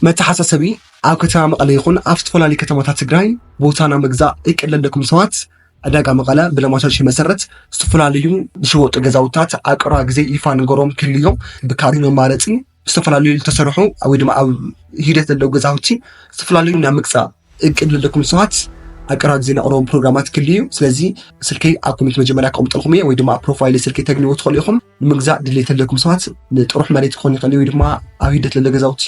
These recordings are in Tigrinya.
መተሓሳሰቢ፣ ኣብ ከተማ መቐለ ይኹን ኣብ ዝተፈላለዩ ከተማታት ትግራይ ቦታ ናይ ምግዛእ እቅድ ለለኩም ሰባት ዕዳጋ መቐለ ብለማሻሽ መሰረት ዝተፈላለዩ ዝሽወጡ ገዛውታት ኣብ ቀረባ ግዜ ይፋ ንገሮም ክህሉ እዮም። ብካሪ መማረፂ ዝተፈላለዩ ዝተሰርሑ ወይ ድማ ኣብ ሂደት ዘለዉ ገዛውቲ ዝተፈላለዩ ናይ ምግዛእ እቅድ ለለኩም ሰባት ኣብ ቀረባ ግዜ ነቕርቦም ፕሮግራማት ክልዩ ስለዚ ስልከይ ኣብ ኮሜንት መጀመርያ ከቕምጠልኩም እየ ወይ ድማ ኣብ ፕሮፋይል ስልኪ ተግንዎ ትኽእሉ ኢኹም ንምግዛእ ድሌት ለለኩም ሰባት ንጥሩሕ መሬት ክኾን ይኽእል ወይ ድማ ኣብ ሂደት ለለ ገዛውቲ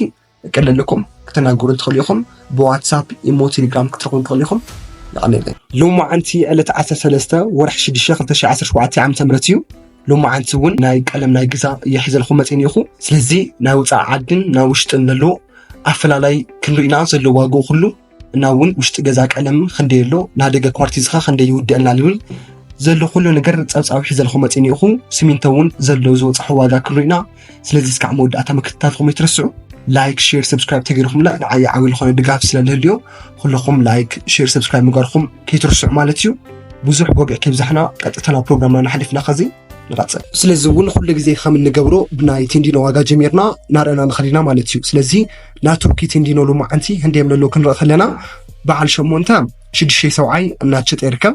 እቅድ ለለኩም ክተናገሩ ትኽእሉ ኢኹም ብዋትሳፕ ኢሞ ቴሌግራም ክትረኽቡ ትኽእሉ ኢኹም ይቐኒለይ ሎሚ መዓንቲ ዕለት 13 ወርሒ 6 2017 ዓ ም እዩ ሎማዓንቲ እውን ናይ ቀለም ናይ ግዛ የሕዘልኹ መፅን ኢኹ ስለዚ ናይ ወፃኢ ዓድን ናይ ውሽጥን ዘሎ ኣፈላላይ ክንርኢና ዘሎ ዋግ ኩሉ እና እውን ውሽጢ ገዛ ቀለም ክንደይ ኣሎ ናይ ደገ ኳርቲዝካ ክንደይ ይውድአልና ዝብል ዘሎ ኩሉ ነገር ፀብፃብ ሒዘልኹ መፅን ኢኹ ስሚንቶ እውን ዘሎ ዝወፅሖ ዋጋ ክንርኢና ስለዚ እስካዕ መወዳእታ ምክትታልኩም ይትረስዑ ላይክ ሼር ሰብስክራይብ ተገይርኹምና ንዓይ ዓብዪ ዝኾነ ድጋፍ ስለልህልዮ ኩልኹም ላይክ ሼር ሰብስክራይብ ምግባርኩም ከይትርስዑ ማለት እዩ ብዙሕ ጎግዕ ከብዛሕና ቀጥታ ናብ ፕሮግራምና ንሓሊፍና ከዚ ንቐፅል ስለዚ እውን ኩሉ ግዜ ከም እንገብሮ ብናይ ቴንዲኖ ዋጋ ጀሚርና ናርአና ንኸሊና ማለት እዩ ስለዚ ናይ ቱርኪ ቴንዲኖ ሎማዓንቲ ህንደየም ለሎ ክንርኢ ከለና በዓል ሸሞንተ ሽዱሽተ ሰብዓይ እናትሸጠ ይርከብ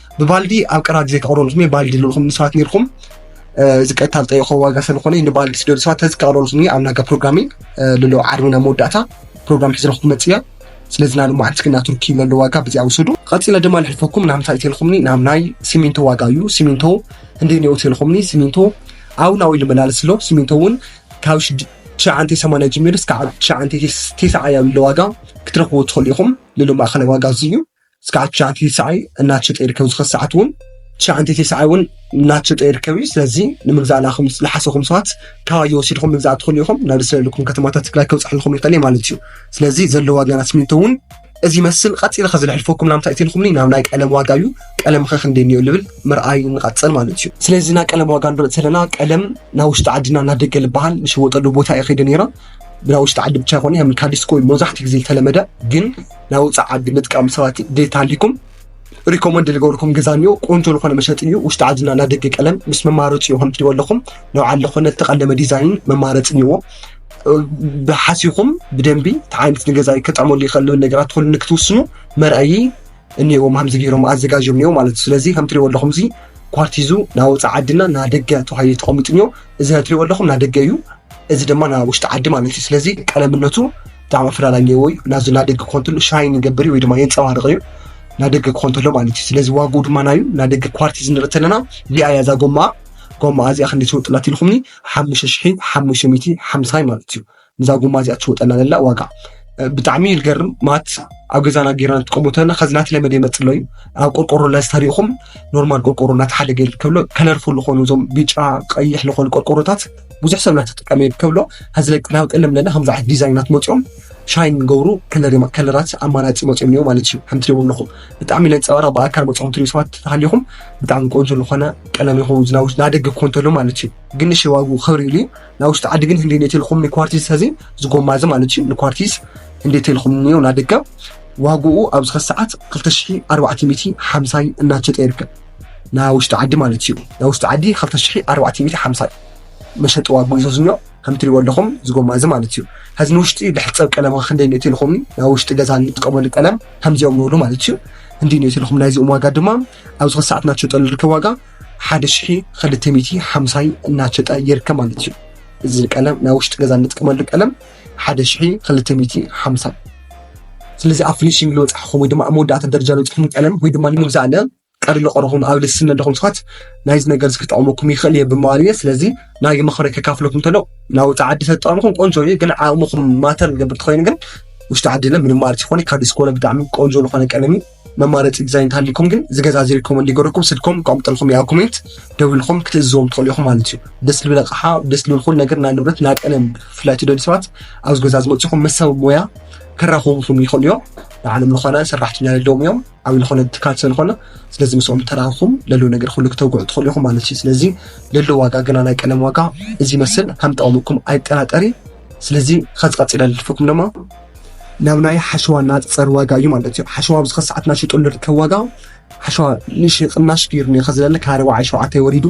ብባልዲ ኣብ ቀራድ ዘይተቕረሉ ስሜ ባልዲ ልልኹም ንስባት ኔርኩም እዚ ቀጥታ ዝጠየቆ ዋጋ ስለዝኾነ ንባልዲ ስደዱ ሰባት ተዚ ቀቕረሉ ስሜ ኣብ ናጋ ፕሮግራሚ ልሎ ዓርቢ ናብ መወዳእታ ፕሮግራም ሒዝረኹ ክመፅ እያ ስለዚ ናብ ማዓንቲ ክና ቱርኪ ለሎ ዋጋ ብዚኣ ውሰዱ ቀፂለ ድማ ልሕልፈኩም ናብ ምንታይ ተልኹምኒ ናብ ናይ ሲሚንቶ ዋጋ እዩ ሲሚንቶ እንደ ኔኡ ተልኹምኒ ሲሚንቶ ኣብ ናዊ ልመላለስ ኣሎ ሲሚንቶ እውን ካብ ትሽዓንተ ሰማንያ ጀሚሩ እስካብ ትሽዓንተ ቴስዓ ያሉ ዋጋ ክትረኽብዎ ትኽእሉ ኢኹም ልሎ ማእኸላይ ዋጋ እዚ እዩ እስካዕ ትሽዓተ ቲስዓይ እናተሸጠ ይርከብ ዝኸ ሰዓት እውን ትሽዓተ ቲስዓይ እውን እናተሸጠ ይርከብ እዩ ስለዚ ንምግዛእ ናኹም ዝሓሰኹም ሰባት ካባየ ወሲድኹም ምግዛእ ትኽእሉ ኢኹም ናብ ዝሰለልኩም ከተማታት ትግራይ ከብፅሐልኩም ይኽእል ማለት እዩ ስለዚ ዘለዎ ዋጋ ናይ ስሚንቶ እውን እዚ ይመስል ቀፂለ ከዝልሕልፈኩም ናምታ እትልኩምኒ ናብ ናይ ቀለም ዋጋ እዩ ቀለም ከ ክንደይ እኒኦ ልብል ምርኣይ ንቐፅል ማለት እዩ ስለዚ ናይ ቀለም ዋጋ ንርኢ ዘለና ቀለም ናብ ውሽጢ ዓድና እናደገ ዝበሃል ንሸወጠሉ ቦታ እየ ከይደ ነይረ ናብ ውሽጢ ዓዲ ብቻ ይኮነ ከም ካዲስኮ መብዛሕትኡ ግዜ ዝተለመደ ግን ናይ ውፃእ ዓዲ ምጥቃም ሰባት ድሌት ሃሊኩም ሪኮመንድ ልገብርኩም ገዛ እኒኦ ቆንጆ ዝኾነ መሸጢ እዩ ውሽጢ ዓድና ናይ ደገ ቀለም ምስ መማረፂ እዩ ከምትሪእዎ ኣለኹም ናብ ዓዲ ዝኾነ ዝተቐለመ ዲዛይን መማረፂ እኒዎ ብሓሲኹም ብደንቢ እቲ ዓይነት ንገዛ ከጥዕመሉ ይኽእል ዝብል ነገራት ትኽእሉ ንክትውስኑ መርኣዪ እኒዎም ከምዚ ገይሮም ኣዘጋጅዮም እኒኦ ማለት እዩ ስለዚ ከምትሪእዎ ኣለኹም እዚ ኳርቲዙ ናይ ወፃእ ዓድና ናይ ደገ ተባሂሉ ተቐሚጡ እኒኦ እዚ ናይ ትሪእዎ ኣለኹም ናይ ደገ እዩ እዚ ድማ ናይ ውሽጢ ዓዲ ማለት እዩ ስለዚ ቀለምነቱ ብጣዕሚ ኣፈላላይ ኣለዎ እዩ እና እዚ ናደገ ክኾን ተሎ ሻይን ይገብር እዩ ወይ ድማ የንፀባርቕ እዩ ናደገ ክኾን ተሎ ማለት እዩ ስለዚ ዋግኡ ድማ ናዩ ናደገ ኳርቲዝ ንርኢ ተለና እዚኣ እያ እዛ ጎማኣ ጎማኣ እዚኣ ክንደይ ትሸወጥላ ትልኩምኒ ሓሙሽተ ሽሒ ሓሙሽተ ሚእቲ ሓምሳይ ማለት እዩ ንዛ ጎማ እዚኣ ትሸወጠላ ዘላ ዋጋ ብጣዕሚ እዩ ዝገርም ማት ኣብ ገዛና ጌርና ንጥቀሙ ተለና ከዚ ናት ለመደ ይመፅ ኣሎ እዩ ኣብ ቆርቆሮ ለዝተሪእኹም ኖርማል ቆርቆሮ እናተሓደገ ይርከብሎ ከለርፉል ዝኾኑ እዞም ቢጫ ቀይሕ ዝኾኑ ቆርቆሮታት ብዙሕ ሰብ ናተጠቀመ እዩ ከብሎ ሀዚ ላይ ቅዳዊ ቀለም ለና ከምዚ ዓይነት ዲዛይናት መፅኦም ሻይን ገብሩ ከለራት ኣማራፂ መፅኦም እኒኦ ማለት እዩ ከምቲ ደቡ ኣለኹም ብጣዕሚ ነንፀባራ ብኣካል መፅኦም ትሪኡ ሰባት ተሃሊኹም ብጣዕሚ ቆንጆ ዝኾነ ቀለም ይኹ ዝናውሽ ናደገ ኮንተሎ ማለት እዩ ግን ንሽ ዋጉ ክብሪ ኢሉ ናውሽጢ ዓዲ ግን ህንዲ ኔት ልኹም ንኳርቲስ ሀዚ ዝጎማ እዚ ማለት እዩ ንኳርቲስ እንዴት ልኹም እኒኦ ናደገ ዋግኡ ኣብ ዝኸ ሰዓት 2450 እናቸጠ ይርከብ ናይ ውሽጢ ዓዲ ማለት እዩ። ናይ ውሽጢ ዓዲ ክልተ ሽሕ ኣርባዕተ ሚእቲ ሓምሳ እዩ መሸጢ ዋግኡ ይዞ ዝኒኦ ከም እትሪእዎ ኣለኹም እዚ ጎማ እዚ ማለት እዩ። ሕዚ ንውሽጢ ልሕፀብ ቀለም ኸ ክንደይ ንእቲ ኢልኹምኒ ናይ ውሽጢ ገዛ ንጥቀመሉ ቀለም ከምዚኦም ንብሉ ማለት እዩ። ክንደይ ንእቲ ኢልኹም ናይዚኦም ዋጋ ድማ ኣብዚ ኸዚ ሰዓት እናተሸጠሉ ዝርከብ ዋጋ ሓደ ሽሕ ክልተ ሚእቲ ሓምሳ እናተሸጠ ይርከብ ማለት እዩ። እዚ ቀለም ናይ ውሽጢ ገዛ ንጥቀመሉ ቀለም ሓደ ሽሒ ክልተ ሚእቲ ሓምሳ ስለዚ ኣብ ፍኒሽንግ ዝበፃሕኹም ወይ ድማ ኣብ መወዳእታ ደረጃ ዝበፅሕኹም ቀለም ወይ ድማ ንምግዛእ ኣለ ቀሪ ለቆረኹም ኣብ ልስን ኣለኹም ስኻት ናይዚ ነገር እዚ ክጠቕመኩም ይኽእል እየ ብምባል እየ ስለዚ ናይ መኽረ ከካፍለኩም እንተሎ ናብ ውፃ ዓዲ ተጠቕምኹም ቆንጆ እዩ ግን ዓቕምኹም ማተር ዝገብር ትኾይኑ ግን ውሽጢ ዓዲ ለ ምንም ማለት ይኾነ ካብ ዲስኮነ ብጣዕሚ ቆንጆ ዝኾነ ቀለም እዩ መማረፂ ዲዛይን እንተሃልዩኩም ግን እዚ ገዛ እዚ ሪኮመንድ ይገብረኩም ስልኮም ከቕምጠልኩም ያ ኮሜንት ደዊልኩም ክትእዝዎም ትኽእሉ ኢኹም ማለት እዩ ደስ ልብል ኣቕሓ ደስ ልብል ኩሉ ነገር ናይ ንብረት ናይ ቀለም ብፍላይ ትደልዩ ሰባት ኣብዚ ገዛ ዝመፅኹም ምስ ሰብ ሞያ ከራኽቡኹም ይኽእሉ እዮም ንዓለም ዝኾነ ሰራሕተኛ ዘለዎም እዮም ዓብይ ዝኾነ ትካል ስለዝኾነ ስለዚ ምስኦም ተራኽኹም ለለዉ ነገር ኩሉ ክተውግዑ ትኽእሉ ኢኹም ማለት እዩ ስለዚ ለለዉ ዋጋ ገና ናይ ቀለም ዋጋ እዚ ይመስል ከም ጠቕሙኩም ኣይጠራጠሪ ስለዚ ከዚ ቀፂለ ልልፍኩም ድማ ናብ ናይ ሓሸዋ ናፀር ዋጋ እዩ ማለት እዩ ሓሸዋ ኣብዚ ከሰዓት ናሽጡሉ ርከብ ዋጋ ሓሸዋ ንሽ ቅናሽ ገይሩ ኒ ከዝለለ ካብ ኣርባዓይ ሸውዓተ ወሪዱ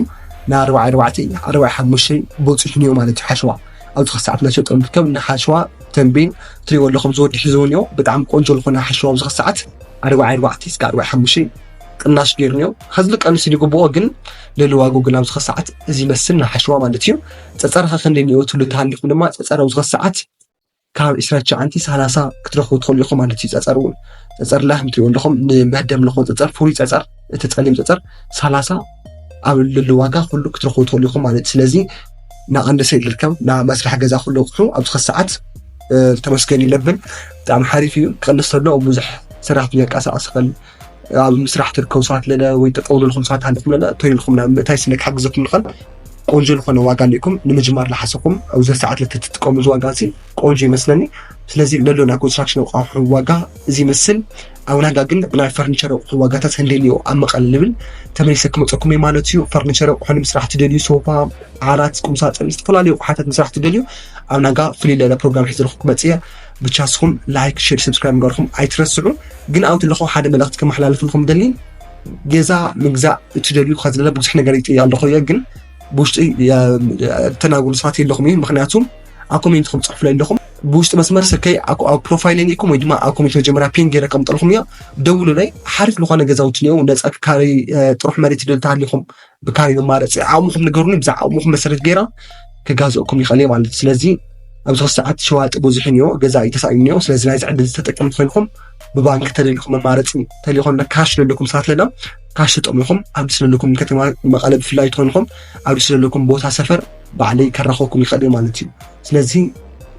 ናብ ኣርባዓ ኣርባዕተ ኣርባዓ ሓሙሽተ በፂሑ ኒዮ ማለት እዩ ሓሸዋ ኣብዚ ከሰዓት ናሸጡ ንርከብ ንሓሸዋ ተንቤን ትሪእዎ ኣለኹም ዝወዲ ሒዝዎ ኒዮ ብጣዕሚ ቆንጆ ዝኾነ ሓሸዋ ኣብዚ ከሰዓት ኣርባዓ ኣርባዕተ እስከ ኣርባዓ ሓሙሽተ ቅናሽ ገይሩ ኒዮ ከዚ ቀንሱ ይግብኦ ግን ልዕሊ ዋጉ ግን ኣብዚ ከሰዓት እዚ ይመስል ንሓሸዋ ማለት እዩ ፀፀርኻ ክንደይ ኒዮ ትብሉ ተሃሊኹም ድማ ፀፀር ኣብዚ ከሰዓት ካብ ዕስራ ትሽዓተ ሳላሳ ክትረኽቡ ትኽእሉ ኢኹም ማለት እዩ። ፀፀር እውን ፀፀር ላይፍ ትሪኡ ኣለኹም ንመደብ ዝኾን ፀፀር ፍሉይ ፀፀር እቲ ፀሊም ፀፀር ሳላሳ ኣብ ልሉ ዋጋ ኩሉ ክትረኽቡ ትኽእሉ ኢኹም ማለት እዩ። ስለዚ ንኣንሰ ይልከም ናብ መስርሒ ገዛ ኩሉ ኣቑሑ ኣብ ዝኸ ሰዓት ተመስገን ይለብን ብጣዕሚ ሓሪፍ እዩ ክቕንስ ተሎ ብዙሕ ስራሕ ክንቀሳቐስ ይኽእል ኣብ ምስራሕ ትርከቡ ሰባት ለለ ወይ ጠጠው ልልኩም ሰባት ሃልኹም ለለ እቶ ኢልኩም ናብ ምእታይ ስለ ክሓግዘኩም ልኸል ቆንጆ ዝኾነ ዋጋ ሊእኩም ንምጅማር ልሓሰኹም ኣብዚ ሰዓት ለትትጥቀሙ እዚ ዋጋ እዚ ቆንጆ ይመስለኒ ስለዚ ለሎ ናይ ኮንስትራክሽን ኣቋሑ ዋጋ እዚ ይመስል ኣብ ናጋ ግን ናይ ፈርኒቸር ኣቑሑ ዋጋታት ክንደልዮ ኣብ መቐለ ልብል ተመሊሰ ክመፀኩም እዩ ማለት እዩ ፈርኒቸር ኣቑሑ ንምስራሕ ትደልዩ ሶፋ ዓራት ቁምሳጥን ዝተፈላለዩ ኣቑሓታት ምስራሕ ትደልዩ ኣብ ናጋ ፍልይ ለለ ፕሮግራም ሒዘልኹ ክመፅእ እየ ብቻ ንስኹም ላይክ ሼር ሰብስክራይብ ምግባርኩም ኣይትረስዑ። ግን ኣብኡ ዘለኹ ሓደ መልእኽቲ ከመሓላልፍልኩም ደሊ ገዛ ምግዛእ እትደልዩ ከዝለለ ብዙሕ ነገር ይጥያ ኣለኹ እየ ግን ብውሽጢ ተናግሩ ሰባት የለኹም እዩ ምክንያቱ ኣብ ኮሜንትኩም ፅሕፍለይ ኣለኹም ብውሽጢ መስመር ስልከይ ኣብ ፕሮፋይል ኒኩም ወይ ድማ ኣብ ኮሜንት መጀመርያ ፒን ገይረ ከምጠልኹም እዮ ደውሉለይ ሓሪፍ ዝኾነ ገዛውቲ እኒኦ ነፃ ክካሪ ጥሩሕ መሬት ይደልታ ሃሊኹም ብካሊእ መማረፂ ዓቅምኹም ንገሩኒ ብዛ ዓቅምኹም መሰረት ገይረ ክጋዘእኩም ይኽእል እየ ማለት እዩ ስለዚ ኣብዚ ክልተ ሰዓት ሸዋጢ ብዙሕ እኒኦ ገዛኢ ተሳኢኑ እኒኦ ስለዚ ናይዚ ዕድል ዝተጠቀምቲ ኮይንኩም ብባንኪ ተደሊኹም መማረፂ ተሊኹም ካሽ ዘለኩም ሰባት ለና ካሽ ተጠሚኹም ኣብዚ ስለለኩም ከተማ መቐለ ብፍላይ ትኾንኹም ኣብዚ ስለለኩም ቦታ ሰፈር ባዕለይ ከራኸብኩም ይኽእል ማለት እዩ ስለዚ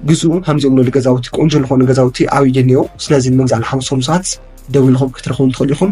ግዝኡ ከምዚኦም ንሉ ገዛውቲ ቆንጆ ዝኾኑ ገዛውቲ ኣብይ እኒኦ ስለዚ ንምግዛእ ንሓምሶም ሰባት ደው ኢልኹም ክትረኽቡም ትኽእሉ ኢኹም